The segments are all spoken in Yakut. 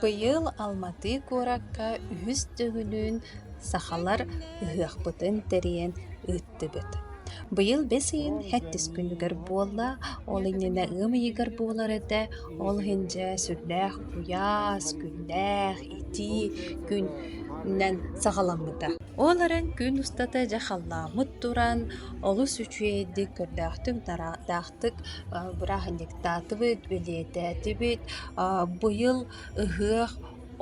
Быйыл Алматы куоракка үһүс төгүлүн сахалар ыһыахпытын тэрийэн ыыттылар ыллардыбыт. Быйыл бэс ыйын сэттис күнүгэр буолла. Ол иннинэ ыам ыйыгар буолар этэ. Ол иһин дьэ сүрдээх куйаас, күннээх итии күнүнэн саҕаламмыта. Ол эрэн күн устата дьэ халлааммыт туран олус үчүгэйдик көрдөөхтүк тараахтаахтык бырааһынньыктаатыбыт, бэлиэтээтибит. Быйыл ыһыах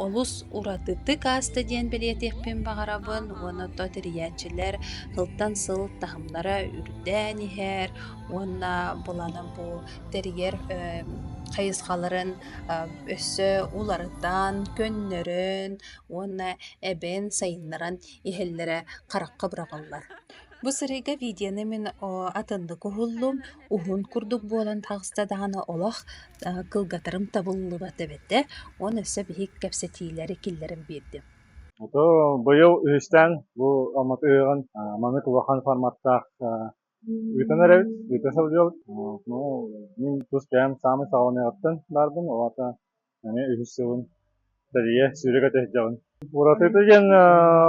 Олус уратытык ааста диэн бэлиэтиэхпин баҕарабын уонна то тэрийээччилэр сылтан сыл таһымнара үрдээн иһэр уонна былана бу тэрийэр эм хайысхаларын э өссө уларытан, көннөрөн уонна эбэн сайыннаран иһэллэрэ харахха быраҕыллар. Бу сырыыга видеоны мин о атыннык уһуллум. уһун курдук буолан таҕыста даҕаны олох кылгатарым табыллыбат эбэтэ, уон өссө биһик кэпсэтиилэри киллэрэн биэрдим. Ото быйыл үһүстээн бу Алматы ыһыаҕын маннык улахан форматтаах ыытынар эбит, ыыта сылдьабыт. Ну, мин тус бэйэм саамай саҕаланыаҕыттан баарбын, ол аата эмиэ үһүс сылын тэрийэ сүүрэ кэтэһдэҕин. Уратыта диэн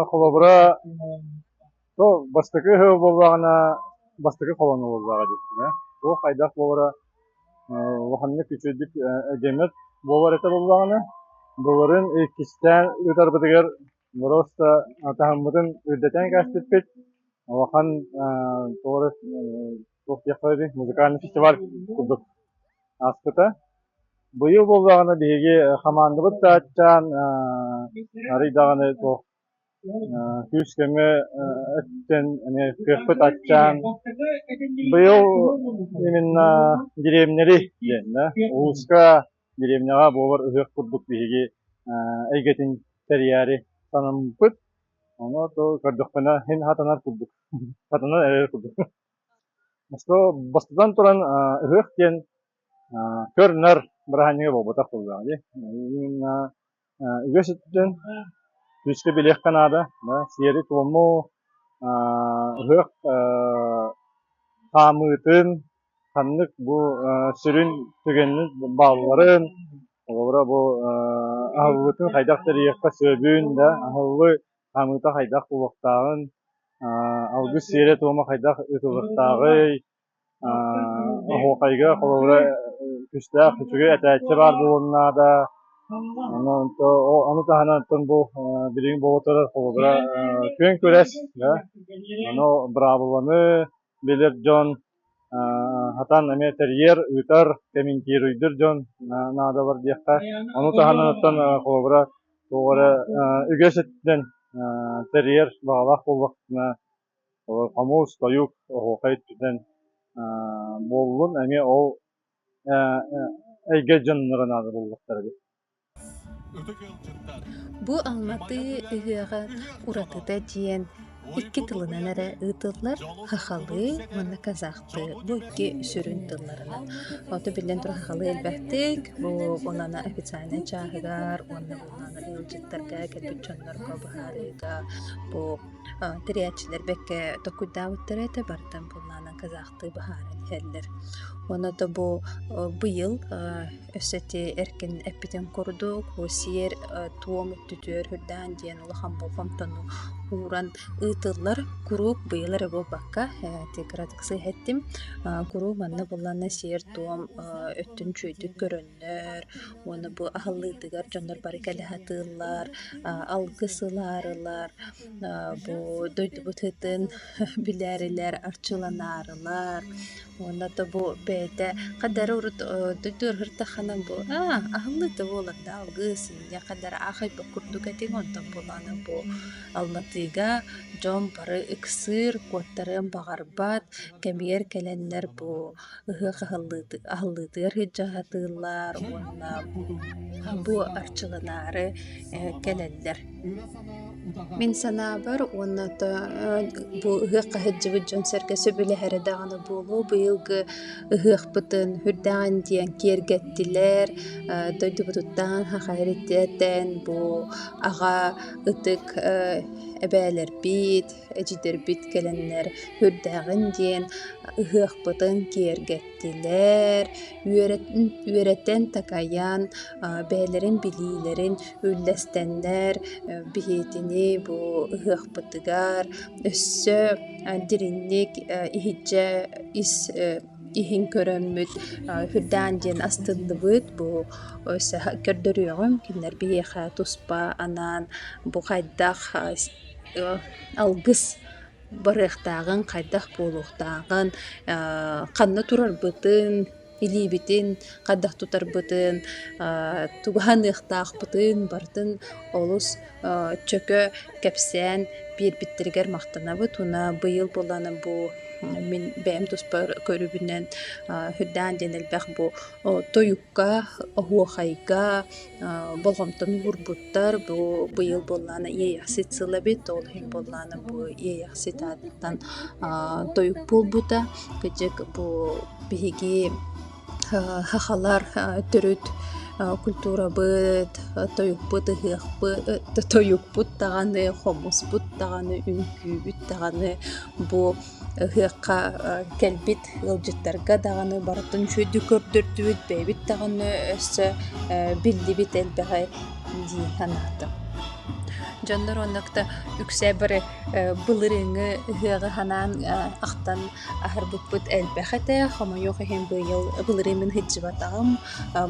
холобура то бастакы ыһы буоллаҕына бастакы холону буоллаҕа диэбитинэ туох хайдах буолара улаханнык үчүгэйдик эдэмэт буолар этэ буоллаҕына былырын иккистээн ыытарбытыгар просто атаһаммытын үрдэтэн кээспиппит улахан тоҕо Успеховеды музыкальный фестиваль курдук ааспыта. Быйыл буоллаҕына биһиги хамаандабыт сааччаан арый даҕаны туох күүс-көмө өттүн эмиэ кыахпыт аччаан быйыл именно деревнэри диэннэ улууска деревняҕа буолар ыһыах курдук биһиги эйгэтин тэрийээри санаммыппыт ону то көрдөхпүнэ син хатанар курдук хатанан эрэр курдук Бастатан туран, ыһыах диэн көр-нар быраһаанньыга буолбатах буолуоҕа дии. Үгэс өттүнэн физика билиэххэ наада, сиэри-туому, ыһыах хаамыытын, ханнык бу сүрүн түгэнин баалларын, холобура бу аһыллыытын хайдах тэрийиэххэ сөбүн, аһыллыы Хамыыта хайдах булуохтааҕын, алгыс сиэрэ-туома хайдах ыытылыахтааҕый, оһуохайга холобура күүстээх үчүгэй этээччи баар буолуон наада. Ону таһынан бу билигин боло турар холобура күөн күрэс, быраабыланы билэр дьон сатаан эмиэ тэрийэр, ыытар, комментируйдур дьон наадалар диэххэ. Ону таһынан холобура туох эрэ үгэс өттүнэн тэрийэр баҕалаах буолбаккына хомуус, тойук оһуохай өттүнэн буоллун эмиэ ол эйгэ дьонноро наада буоллахтара дии. Бу Алматыы ыһыаҕа уратыта диэн икки тылынан эрэ ыытыллар хахалыы уонна казахтыы. Бу икки сүрүн тылларынан. Ото биллэн турар хахалыы элбэхтик, бу онно официальнай чааһыгар уонна буоллаҕына ыалдьыттарга кэлбит дьоннорго быһаарыыга бу тэрийээччилэр бэккэ толкуйдаабыттара этэ бартан буоллаҕына казахтыы быһааран иһэллэр. Уонна да бу быйыл Өссө ити эркин эппитим курдук, бу сиэр, туом өттүтүгэр үрдээн диэн улахан болҕомтону ууран ыытыллар куруук быйыл эрэ буолбакка, ити кыратыксы иһэттим. куруук манна булланна сиэр-туом өттүн чүйдүк көрөннөр уонна бу аһыллыытыгар дьоннор бары кэлэ сатыыллар, алгыс ылаарылар, бу дойдубут ыытын билээрилэр, арчыланаарылар. Уонна то бу бэйэтэ хаддары урут дойду ырыһыртаххана бу аа аһыллыыта буоларда алгыы сынньа хаддары аахайбыт курдук этиҥ онтон буолаана бу аллатыыга дьон бары ыксыыр куоттарыан баҕарбат кэмигэр кэлэннэр бу ыһыах аһыллыытыгар иһитдьэ сатыыллар уонна бу арчыланаары кэлэллэр Мин санаабар уонна бу ыһыахха сылдьыбыт дьон-сэргэ сөбүлэһэрэ даҕаны буолуо, быйылгы ыһыахпытын үрдэҕин диэн киэргэттилэр. Дойдубутуттан саха эритэтэн бу аҕа ытык эбээлэрбит, эдьиийдэрбит кэлэннэр үрдэҕин диэн ыһыахпытын киэргэттилэр. иһиттилэр, үөрэтэн такайан, бэйэлэрин билиилэрин үллэстэннэр, биһиэтини бу ыһыахпытыгар өссө дириҥник иһирдьэ ис иһин көрөммүт Үһүрдээн диэн астыллыбыт бу көрдөрүөҕүҥ кинилэр биһиэхэ туспа анаан бу хайдах алгыс барыахтааҕын, хайдах буолуохтааҕын, ханна турарбытын, илиибитин хайдах тутарбытын, тугу саныахтаахпытын барытын олус чөкө кэпсээн биэрбиттэригэр махтанабыт уонна быйыл буоллаҕына бу мин бэйэм туспа көрүбүнэн үрдээн диэн элбэх бу тойук оһуохайга болҕомтону уурбуттар бу быйыл буоллаҕына иэйэхсит сыл эбит ол иһин буоллаҕына бу иэйэхсит аатыттан тойук буолбута кырдьык бу биһиги сахалар төрүт культурабыт тойукпут ыһыахпыт тойукпут даҕаны хомуспут даҕаны үҥкүүбүт даҕаны бу Ыһыахха кэлбит ыалдьыттарга даҕаны барытын үчүгэйдик көрдөрдүбүт, бэйэбит даҕаны өссө биллибит элбэҕи дии санаатым. Дьоннор уонна үксэ бары былырыыҥҥы ыһыаҕы санаан ахтан аһарбыппыт элбэх этэ. Хомойуох иһин быйыл былырыыммын сылдьыбатаҕым.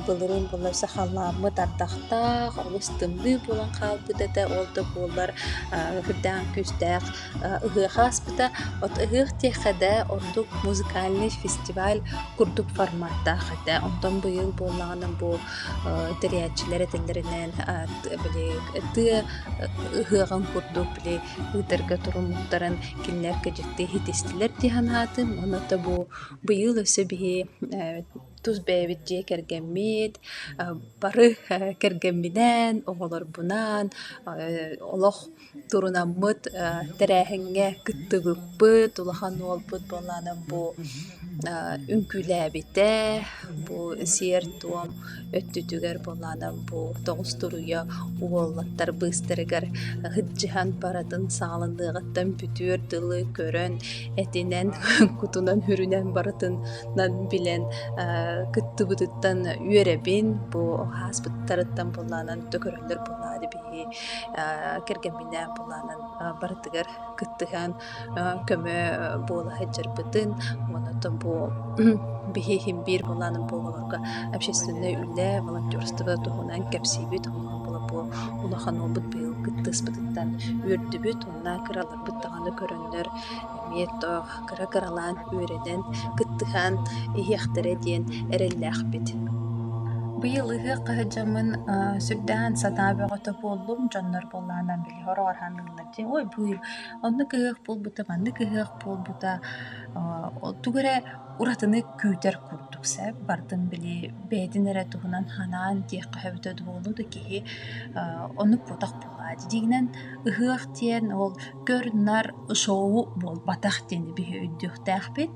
Былырыын буолар сахалааммыт ардахтаах, олус тымныы буолан хаалбыт этэ. Ол да буоллар үрдээн күүстээх Ыһыаха ааспыта ыһыах диэххэ да ордук музыкальнай фестиваль курдук форматтаах этэ. Онтон быйыл буоллаҕына бу тэрийээччилэр этэллэринэн били тыа ыһыаҕын курдук били ыытарга туруммуттарын кинилэр кэдьикти иһитистилэр дии санаатым. Онуота бу быйыл өссө биһи тус бэйэбит дьиэ кэргэммит бары кэргэмминээн, оҕолорбунаан олох турунаммыт тэрээһиҥҥэ кыттыбыппыт, улахан уолбут буолаанан бу үҥкүүлээбитэ, бу сиэр-туом өттүтүгэр буолаанан бу тоҕус туруйа уолаттар быыстарыгар ыһыддьыһан барытын саҕаланыаҕыттан бүтүөр дылы көрөн, этинэн, кутунан үрүнэн барытынан билэн кыттыбытыттан үөрэбин, бу ааспыттарыттан буолаанан төгүрүллэр буолаары кэргэмминээн былаанан барытыгар кыттыһан көмө буола сылдьарбытын онтон бу биһиһин биир былаанын буолабарга общественнай үлэ волонтерство туһунан кэпсиибит бу улахан уолбут быйыл кыттыспытыттан үөрдүбүт уонна кыраларбыт даҕаны көрөннөр эмиэ тоох кыра-кыралаан үөрэнэн, кыттыһан иһиэхтэрэ диэн эрэллээхпит. Быйыл ыһыахха сылдьаммын сүрдээн санаа бөҕөтө буоллум. Дьоннор буоллаҕынан били хороҕор ханыыллар диэн «Ой, бу оннук ыһыах буолбута, маннык ыһыах буолбута» тугу эрэ уратыны күүтэр курдук сэп. Бардым били бэйэтин эрэ туһунан санаан диэххэ сөбүтэ дуо, олус да киһи оннук буотах буолаат. Дьиҥинэн ыһыах диэн ол Көр-нар шоу буолбатах диэн биһи өйдүөхтээхпит.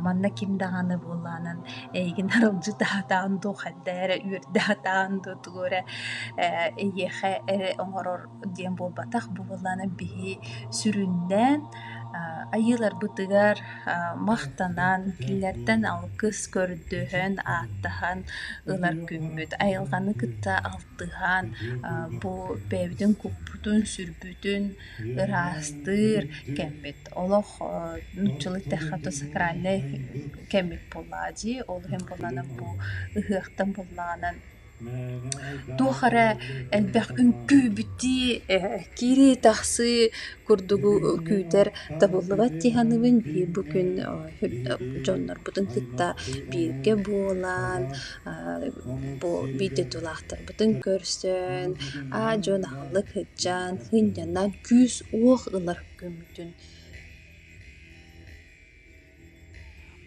манна ким даҕаны буоллаҕынан эйигин аралдьытаатаҕын дуо, хайда эрэ үөрдэхтаҕын дуо, тугу эрэ эйиэхэ эрэ оҥорор диэн буолбатах. бу буоллаҕына биһи сүрүннээн айыыларбытыгар махтанан, кинилэртэн алгыс көрдөһөн, ааттаһан ылар күммүт. Айылҕаны кытта тыһаан бу бэйэбитин куппутун, сүрбүтүн ыраастыыр кэммит. Олох нууччалыы эттэххэ то сакральнай кэммит буоллаҕа дии. Ол иһин буоллаҕына бу ыһыахтан буоллаҕына туох эрэ элбэх үҥкүү-бүтүү, киирии-тахсыы курдугу күүтэр табыллыбат дьаһаныбын биир бу күн дьоннорбутун кытта бииргэ буолан бу дойдулаахтарбытын көрсөн аа дьон аһылла кыдьаан сынньанан күүс-уох ылар күммүтүн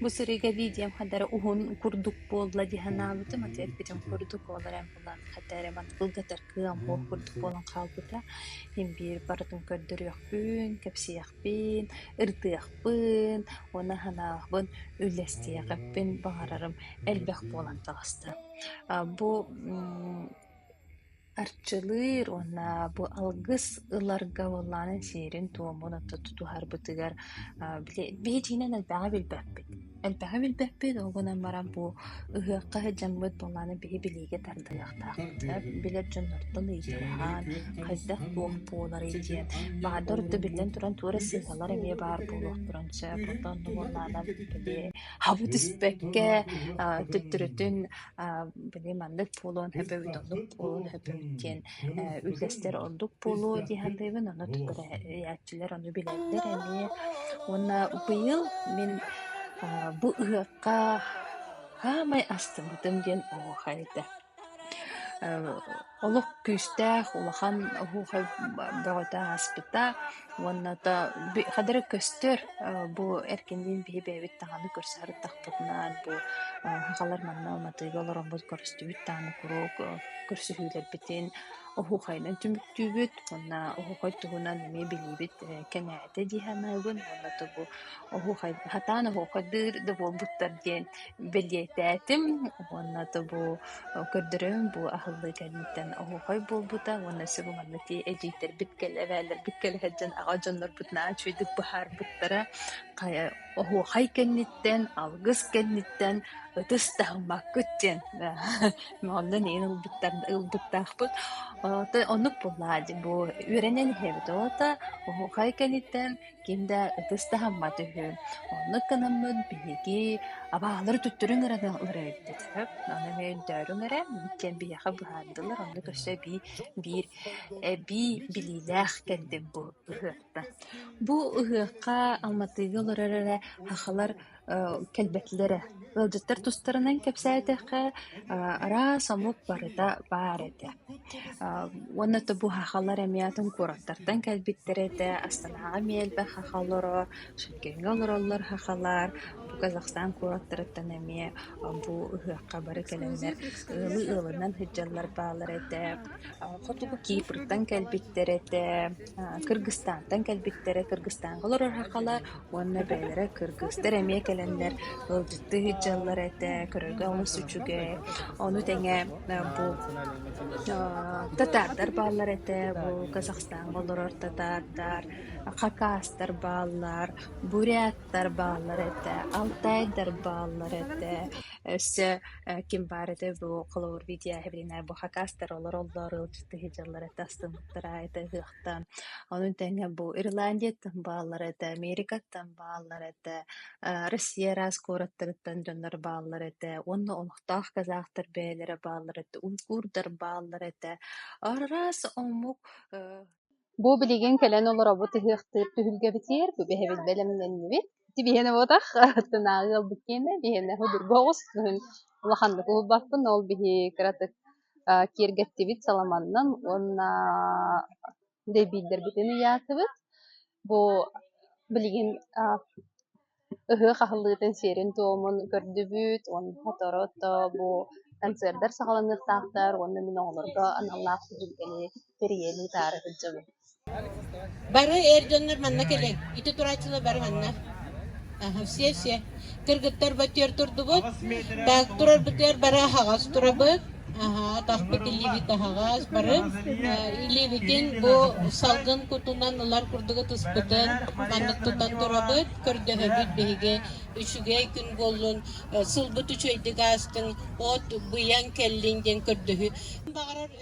Бу сырыыга дии диэм хата эрэ уһун курдук буолла дии санаабытым, ити эппитим курдук ол эрэ эн булан хата эрэ маны былгатар кыам буол курдук буолан хаалбыта. Мин биир барытын көрдөрүөхпүн, кэпсиэхпин, ырытыахпын уонна санаабын, үллэстиэхиппин баҕарарым элбэх буолан таҕыста. А бу мм Арчылыыр уонна бу алгыс ыларга буоллаҕына сиэрин-туомун отто тутуһарбытыгар били биһитиинэн элбэҕи билбэппит. Элбэҕи билбэппит, ол гынан баран бу ыһыахха сылдьаммыт буоллаҕына биһи билиигэ тардыһыахтаахтар. Билэр дьоннортон ыйыталаһан хайдах-туох буоларый диэн. Баҕардар ордук биллэн туран туора сыыһалар эмиэ баар буолуохтарын сөп. Оттон онно буоллаҕына били хабы түспэккэ төттөрүтүн били маннык буолуон сөп эбит, оннук буолуон сөп эбит диэн үллэстэр ордук буолуо дии саныыбын. Ону тугу эрээччилэр ону билэллэр эмиэ. Уонна быйыл мин бу ыһыахха саамай астыммытым диэн оһуохай этэ. Олох күүстээх, улахан оһуохай бөҕөтө ааспыта. Уонната би хадары көстөр, э, бу эркинниин биһи бэйэбит даҕаны көрсүһэрдахпытынан бу э, сахалар манна Алматыга олороммут көрүстүбүт даҕаны куруук э, көрсүһүүлэрбитин оһуохайынан түмүктүүбүт уонна оһуохай туһунан эмиэ билиибит э, кэҥээтэ дии санаабын. Уонната бу оһуохай, сатаан оһуохайдыыр да буолбуттар диэн бэлиэтээтим уонна тобу көрдөрөм бу аһыллыы кэнниттэн оһуохай буолбута уонна сөп уонна ити эдьиийдэрбит кэл эбээлэрбит кэлэһэт дьон аҕа дьоннорбут наачыйдык быһаарбыттара хайа оһуохай кэнниттэн алгыс кэнниттэн ытыс таһыммаккыт диэн онон иһин ылбыттар ылбыттаахпыт оннук буоллаҕа бу үөрэнэн иһэбит оҕото оһуохай кэнниттэн ким да ытыс таһыммат үһү. Оннук гынаммын биһиги абаалары туттуруҥ эрэ ыҥыра эрбит. Хөп, ону эмиэ өйдөөруҥ эрэ, диэн биһиэхэ быһаардылар. Оннук өссө эбии биир эбии билиилээх кэллим бу ыһыахтан. Бу ыһыахха Алматыга олорор эрэ сахалар кэлбэтилэрэ. Ыалдьыттар тустарынан кэпсээтэххэ, араас омук барыта баар этэ. Уонна быһахалар эмиэ атын куораттартан кэлбиттэрэ этэ. Астанаҕа эмиэ элбэх хахха олорор, Шэккэҥҥэ олороллор хаххалар. Бу Казахстан куораттарыттан эмиэ бу ыһыахха бары кэлэннэр ыалы ыалынан сылдьаллар бааллар этэ. Хотугу Кипртан кэлбиттэр этэ, Кыргызстантан кэлбиттэрэ. Кыргызстанга олорор хаххалар уонна бэйэлэрэ кыргыстар эмиэ кэлэннэр ыалдьыттыы сылдьаллар этэ, көрөргө олус үчүгэй. Ону тэҥэ бу татаардар бааллар этэ, бу Казахстаҥҥа олорор татаардар, хакастар бааллар, буряттар бааллар этэ, алтайдар бааллар этэ. Өссө ким баар этэй бу холобур видео иһибинэ бу хакастар олороллор, ыалдьыттыы сылдьаллар этэ, астыммыттара этэй Ону тэҥэ бу Ирландияттан бааллар этэ, Америкаттан бааллар этэ, э, Россия араас куораттарыттан дьоннор бааллар этэ уонна олохтоох казахтар бэйэлэрэ бааллар этэ, унгурдар бааллар этэ. Араас омук э, Бу билигин кэлэн олоробут ыһыахтыыр түһүлгэбитигэр бэһэбит бэлэмнэннибит. Ити биһиэнэ буотах тынааҕы ылбыт киэнэ биһиэнэ судургу оҕус. Улаханнык уһулбаппын ол биһи кыратык киэргэттибит саламаннан уонна дэйбиирдэрбитин ыйаатыбыт. Бу билигин ыһыах аһыллыытын сиэрин-туомун көрдүбүт уонна сотору-сотору бу концерттар саҕаланыахтаахтар уонна мин оҕолорго аналлаах түһүлгэни тэрийэни таары сылдьабын. Бары эр дьоннор манна кэлиҥ. Ити турааччылар бары манна. Аха, все-все. Кыргыттар бытыар турдубут. Так, турар бытыар бары аһаҕас турабыт. Аха, атахпыт илиибит аһаҕас. Бары э, илиибитин бу салгын кутунан ылар курдугу туспутун маннык тутан турабыт. Көрдөһөбүт биһиги үчүгэй күн буоллун, э, сылбыт үчүгэйдик аастын, от быйаҥ кэллин диэн көрдөһү. Баҕарар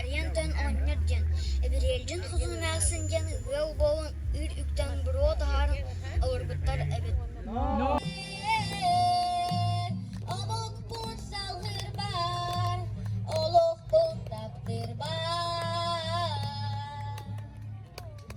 Айан-тойон оҕонньор диэн, Эбэриэлдьин Хосун эмээхсин диэн ыал буолан үүт үктэн буруо таһааран олорбуттар эбит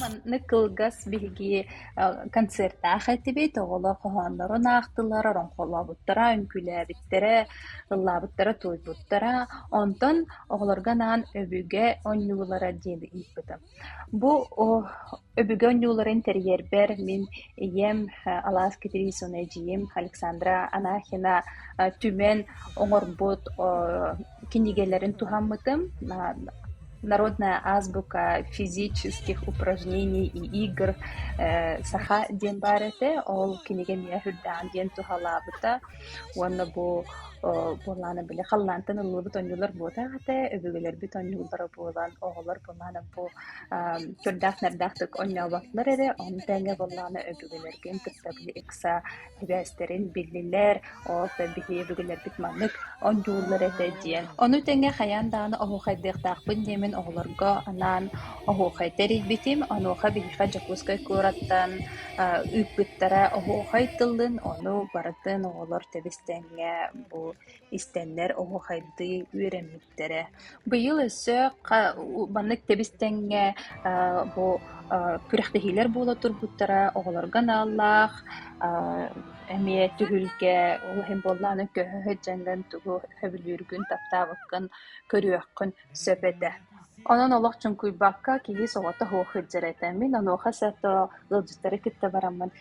Маннык кылгас биһиги концертаах этибит, оҕолор хоһооннорун аахтылар, ороҥхолообуттара, үҥкүүлээбиттэрэ, ыллаабыттара, тууйбуттара. Онтон оҕолорго анаан өбүгэ оонньуулара диэни ыыппытым. Бу өбүгэ оонньууларын тэрийэрбэр мин ийэм алаас Кэтириисунэ эдьиийим Александра Анахина түмэн оҥорбут кинигэлэрин туһаммытым народная азбука физических упражнений и игр саха диэн баар этэ ол кинигэ эмиэ үрдээҕин диэн туһалаабыта уонна бу буоллаана били халлаантан ылыллыбыт оонньуулар буолтаах этэ өбүгэлэрбит оонньууллара буолан оҕолор буоллаана бу көрдөөх нэрдээх оонньооботтулар эрэ ону тэҥэ буоллаана өбүгэлэргин кытта били ыкса сибээстэрин биллилэр, ол да биһиги өбүгэлэрбит маннык онньууллар этэ диэн. Ону тэҥэ хайаан даҕаны оһуохайдыахтаахпын диэмин оҕолорго анаан оһуохай тэрийбитим. Онуоха биһиэхэ Дьокуускай куораттан э, ыыппыттара оһуохай тылын, ону барытын оҕолор тэбис тэҥҥэ бу Истэннэр оһуохайдыы үөрэммиттэрэ. Быйыл өссө маннык тэбис-тэҥҥэ бу күрэхтэһиилэр буола турбуттара оҕолорго аналлаах эмиэ түһүлгэ ол иһин буоллаҕына көһө сылдьаҥҥын тугу сөбүлүүргүн, таптаабыккын көрүөххүн сөп этэ. Онон олох чуҥкуйбакка киһи соҕотох сылдьар этэ. Мин онуоха сото ыалдьыттары кытта бараммын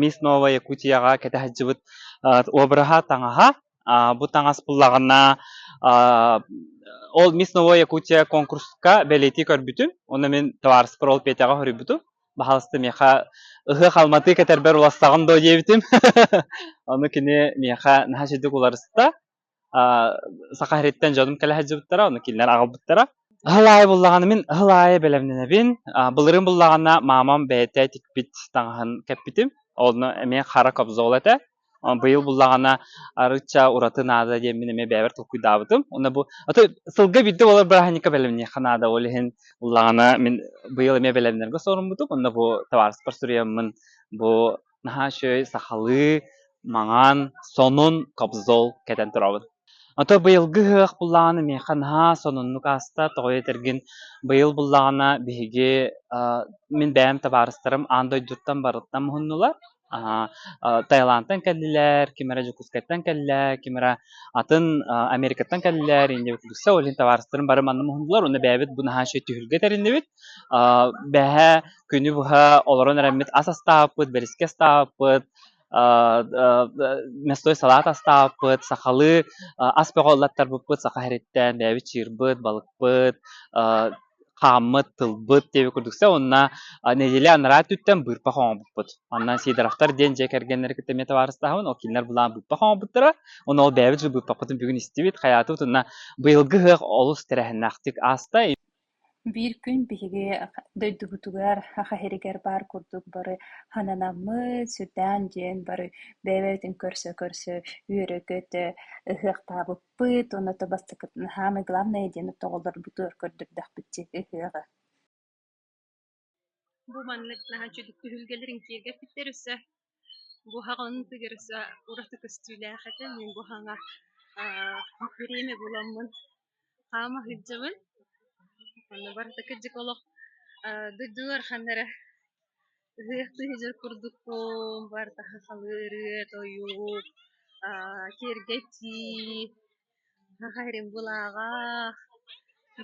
Мисс Новая Якутияҕа кэтэһэлдьибит обраһа таҥаһа. Бу таҥас буллаҕына ол Мисс Новая Якутия конкурска бэлиэтии көрбүтүм. Онно мин табаарыспар ол Петяҕа хоруйбутум. Баһаалыста миэхэ «Ыһыах алматы кэтэрбэр уларсаҕын дуо?» диэбитим. Ону кини миэхэ наһаа чэйдик уларыста. саха сириттэн дьонум кэлэ сылдьыбыттара онно кинилэр аҕалбыттара ыһыл аайы буллаҕына мин ыһыл аайы бэлэмнэнэбин былырыын буллаҕына маамам бэйэтэ тикпит таҥаһын кэппитим онно эмиэ хара кобзол этэ быйыл буллаҕына арыычча ураты наада диэммин эмиэ бэйэбэр толкуйдаабытым онно бу сылга биирдэ болор бырааһынньыкка бэлэмниэххэ наада ол иһин буллаҕына мин быйыл эмиэ бэлэмнэргэ соруммутум онно бу табаарыстар суруйаммын бу наһаа үчүгэй сахалыы маҥан сонун кобзол кэтэн туруоҕун ото быйылгы ыһыах буллаҕына миэхэ наһаа сонуннук ааста тоҕо этэргин быйыл буллаҕына биһиги мин бэйэм табаарыстарым аан дойдуттан барыттан муһуннулар Таиландтан кэллилэр ким эрэ Дьокуускайтан кэллэ ким эрэ атын Америкаттан кэллилэр иннибит билсэ ол иһин табаарыстарым бары манна муһуннулар уонна бэйэбит бу наһаа үчүгэй түһүлгэ тэриннибит Бэһээ күнү быһа олорон эрэммит ас астаабыппыт, бэрискэ астаабыппыт, мястой салаат астаабыппыт, сахалыы ас бөҕө саха иһэриттэн бэйэбит чыырбыт, балыкпыт, хааммыт, тылбыт диэби курдук сэ уонна нэдиэлэ анараа өттүттэн быырпах оҥорбуппут. Онно Сидоровтар диэн дьиэ кэргэннэрэ кытта эмиэ табаарыстаһабын, ол кинилэр былаан быырпах оҥорбуттара. Онно ол бэйэбит же быырпахпытын бүгүн истибит, хайаатыбыт уонна быйылгы ыһыах олус тэрээһиннээхтик ааста. Биир күн биһиги дойдубутугар Хаһиригэр баар курдук бары хананаммыт, сүрдээн дьиэн бары бэйэбитин көрсө-көрсө үөрэ-көтө ыһыахтаабыппыт уонна ото бастакытын аһаан, главное диэн оттоҕолорбутугар көрдөрдөхпүт дьиэти ыһыаҕы Бу маннык наһаа үчүгэй түһүлгэлэрин киэргэппиттэр өссө. Бу хаҕын тыгыр өссө ураты көстүүлээх этэ. Мин бу хаҥа аа бириэмэ буламмын хаама сылдьабын. Аны барыта кырдьык олох аа дойдулар ханна эрэ ыһыахтыы сылдьар курдукпун. Барыта сахалыы ырыа, тойук, аа киэргэтии Наһаа эрим былааҕа,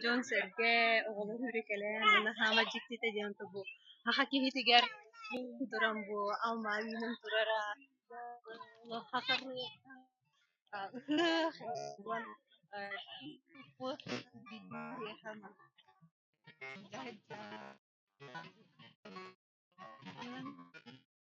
дьон-сэргэ, оҕолор үөрэ-кэлэн наһаама дьиктитэ диэн тобу саха киһитигэр туран бу алма үүнэн турара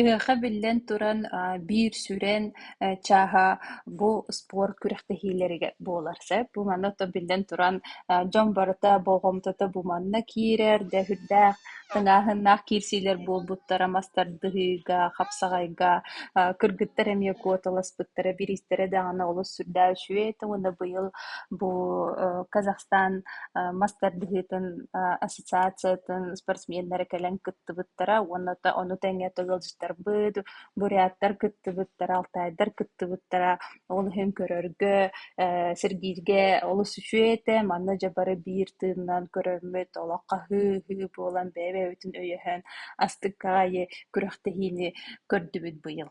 Ыһыахха биллэн туран, биир сүрэн чааһа бу спорт күрэхтэһиилэригэр буолар сөп. Бу манна оттон биллэн туран дьон барыта болҕомтото бу манна киирэр, да сүрдээх тыҥааһыннаах киирсиилэр буолбуттара мастардыһыыга, хапсаҕайга кыргыттар эмиэ куоталаспыттара, бириистэрэ даҕаны олус сүрдээх үчүгэй этэ уонна быйыл бу Казахстан мастардыһыытын ассоциациятын спортсменнары кэлэн кыттыбыттара уонна ону тэҥэ ыалдьыттарбыт, буряттар кыттыбыттара, алтаайдар кыттыбыттара. Ол иһин көрөргө, э, сирбииргэ олус үчүгэй этэ. Манна дьэ бары биир тыыннан көрөммүт олох хаһыы-ыһыы буолан бэйэ-бэйэбитин өйөһөн астык аайы күрэхтэһиини көрдүбүт быйыл.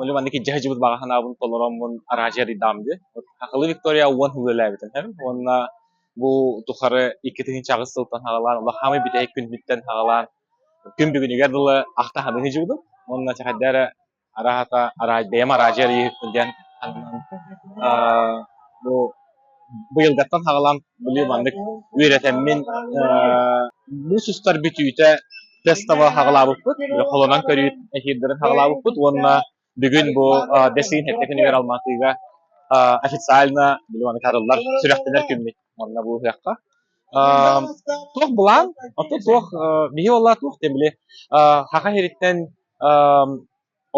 Үлэ маннык илдьэ сылдьыбыт баҕа санаабын толороммун араадьыйа арыйдаҕым дии. Хакылы Виктория уон үлэлээбитин иһин уонна бу тухары иккитинчи аҕыс сылтан саҕалаан олох хаамай бүтэһик күммүттэн саҕалаан күн бүгүнүгэр дылы ахтаһабын сылдьыбытым. Уонна чахайда эрэ арааһата араадьыйам араадьыйа арыйыахпын диэн санаан бу быйылгаттан саҕалаан быйыл маннык үөрэтэммин муус устар бүтүүтэ тестовы саҕалаабыппыт, холонон көрүүт эфирдэрин саҕалаабыппыт уонна бүгүн бу дэсиин сэттэ күнүгэр Алмаатыга официально билбаны кадыллар сүрэхтэнэр күммүт уонна бу ыһыахха. Туох былаан, оттон туох, биһи уоллаа туох тем били саха сириттэн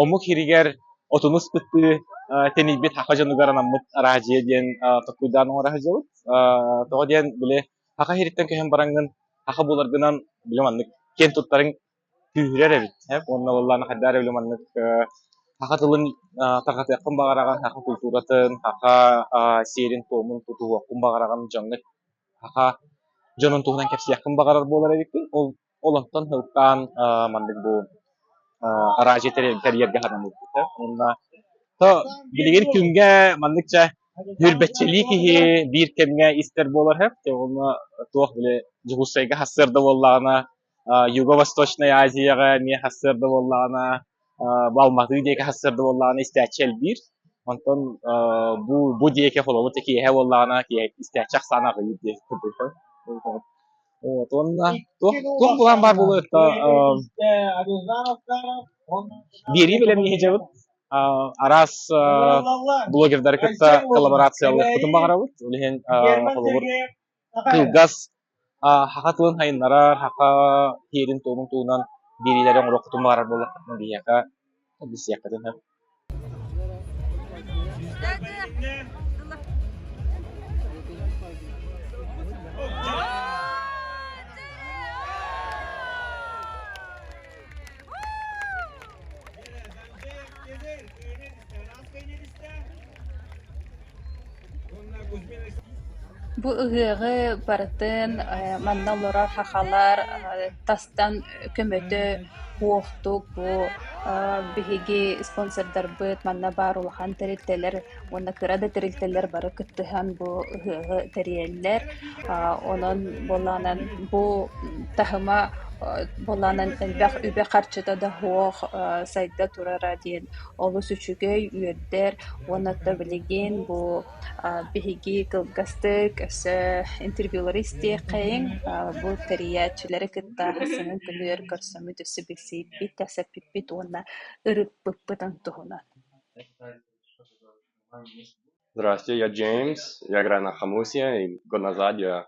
омук иһигэр отунус кыттыы тэнийбит хаха дьонугар анаммыт араадьыйа диэн толкуйдаан оҥоро сылдьабыт. тоҕо диэн били хаха иһиттэн көһөн бараҥҥын хаха буларгынан били маннык киэн туттарыҥ күүһүрэр эбит уонна уоллаан хайдаа эрэ били маннык хаха тылын тарҕатыаххын баҕараҕын хаха култууратын хаха сиэрин-туомун тутуһуоххун баҕараҕын дьоҥҥут хаха дьонун туһунан кэпсиэххин баҕарар буолар эбиккин ол Олортон сылтаан маннык бу араачы тэрийэргэ ханан ылбыта. Уонна то билигин күҥҥэ маннык чэ нүүрбэччэлии киһи биир кэмҥэ истэр буолар сөп. Уонна туох били Дьулуссайга хассыарда буоллаҕына Юго-Восточная Азияҕа эмиэ хассыарда буоллаҕына Алматы диэки сарсыарда буоллаҕына истээччи элбиир. Онтон бу бу диэки холобур киэһэ буоллаҕына киэһэ истээччи ахсаана аҕыйыыр диэки кырдык. Вот уонна туох туох былаан баар буолуой то биэрии бэлэмнии сылдьабыт араас блогердары кытта коллаборациялыахпытын баҕарабыт ол иһин холобур кылгас саха тылын сайыннарар, саха сиэрин-туомун туһунан биэриилэри оҥоруох хотун баҕарар буоллаххытына биһиэхэ билсиэххитин сөп. Бу ыһыаҕы барытын манна олорор сахалар тастан көмөтө уохтук бу биһиги спонсордарбыт манна баар улахан тэрилтэлэр уонна кыра да тэрилтэлэр бары кыттыһан бу ыһыаҕы тэрийэллэр. Онон буоллаҕынан бу таһыма буоллаҕынан элбэх үбэ-харчыта да суох сайда турара диэн олус үчүгэй, үөрдэр уонна то билигин бу биһиги кылгастык өссө интервьюлары истиэххэйиҥ, бу тэрийээччилэри кытта сыҥын тымныыр көрсөммүт өссө билсиһиппит, кэпсэппиппит уонна ырыппыппытын туһунан. Здравствуйте, я Джеймс, я Грана Хамусия, и назад я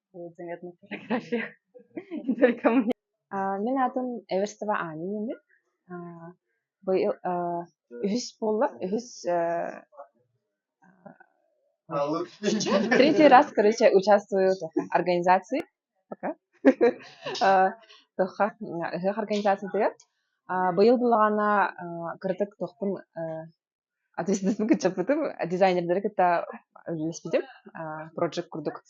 Мин аатым Эверстова Аня Нины. Быйыл үһүс буолла, үһүс третий раз, короче, участвую организации пока ыһыах организациятыгар быйыл булаҕана кырдык тохпун ответственностпын кыччаппытым дизайнердары кытта үлэлэспитим project курдук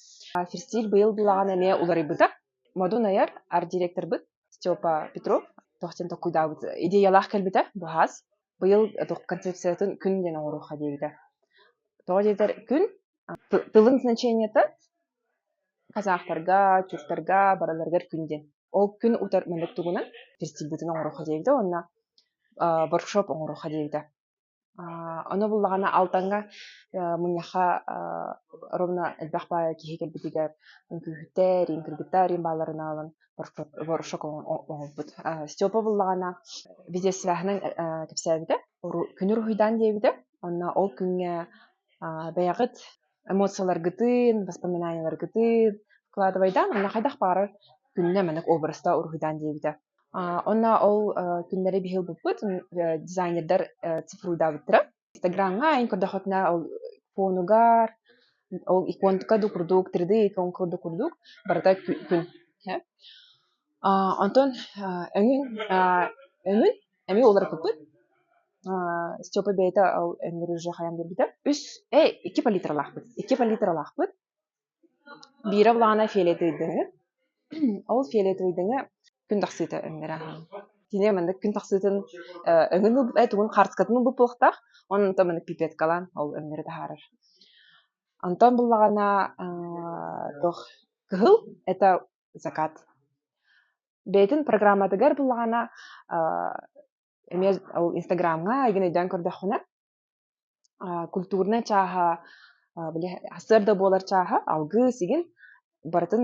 ферстиль быйыл былаҕан эмиэ уларыйбыта модун айар ар директорбыт степа петров тохтен токкуйдаабыт идеялаах кэлбитэ быһаас быйыл концепциятын күн диэн оҥоруохха диэбитэ тоҕо диэтэр күн тылын значениета казахтарга түрктарга барыларыгар күн диэн Ол күн утар мэлик тугунан персибитин оҥорохха диэбитэ уонна воркшоп оҥорохха диэбитэ. Ону буллаҕына алтанга мунньахха ровно элбэх баай киһи кэлбитигэр үҥкүүһүттэр, иин кыргыттар иин бааларын аалан воркшоп оҥорбут. Степа буллаҕына видеосвяһынан кэпсээбитэ, күнүр уһуйдаан диэбитэ. Онно ол күҥҥэ бэйэҕит эмоцияларгытын, воспоминанияларгытын вкладывайдаан онно хайдах баҕарар күннэ маннык образтаах уруһуйдаан диэбитэ. Онно ол күннэри биһил буппут дизайнердар цифруйдаабыттара. Инстаграмҥа эн көрдөххүтүнэ ол фонугар ол иконка да курдук 3D икон курдук курдук барыта күн Аа, онтон аа, эҥин аа, эҥин эмиэ уларыппыппыт. Аа, Степа бэйэтэ ол эҥгэр уже хайан биэрбитэ. Үс, э, икки палитралаахпыт. Икки палитралаахпыт. Биирэ влаана фиолетовойдаҥы. Ол фиолетовойдаҥы күн тахсыыта эҥнэрэ аһаан. Кини маннык күн тахсыытын э, өҥүн ылбыт, э, тугун хартыскатын ылбыт буолуохтаах. Онон онтон маннык пипеткалаан ол өҥнөрү таһаарар. Онтон буллаҕына аа, туох кыһыл это закат бэйэтин программатыгар буллаҕына эмиэ ол инстаграмҥа айгын өйдөөн көрдөххүнэ культурнай чааһа били сырда буолар чааһа алгыс игин барытын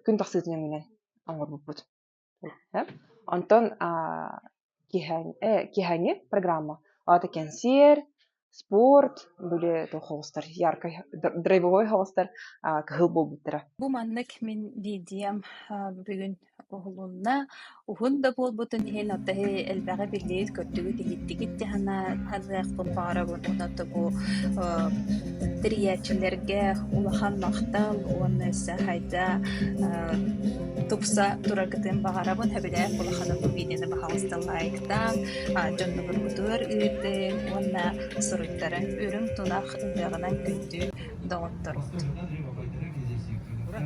күн тахсыытынан оҥорбуппут Онтон киһэҥ киһэҥи программа аата кэнсиэр, спорт, били холостар яркай драйвовой холостар кыһыл буолбуттара. Бу маннык мин диидиэм бүгүн уһулунна. Уһун да буолбутун иһин отаһы элбэҕи биллиит көрдүгүт иһиттигит дьаһана ханыахпын баҕарабын уонна бу тэрийээччилэргэ улахан махтал уонна сайда тупса тураргытын баҕарабын. Сөбүлээх улаханын видеоны баһаҕасталлаайыктаан, дьоннугургутугар ыырдыҥ уонна суруйтарыҥ. Үрүҥ тунах ырыаҕынан күндү доҕотторут.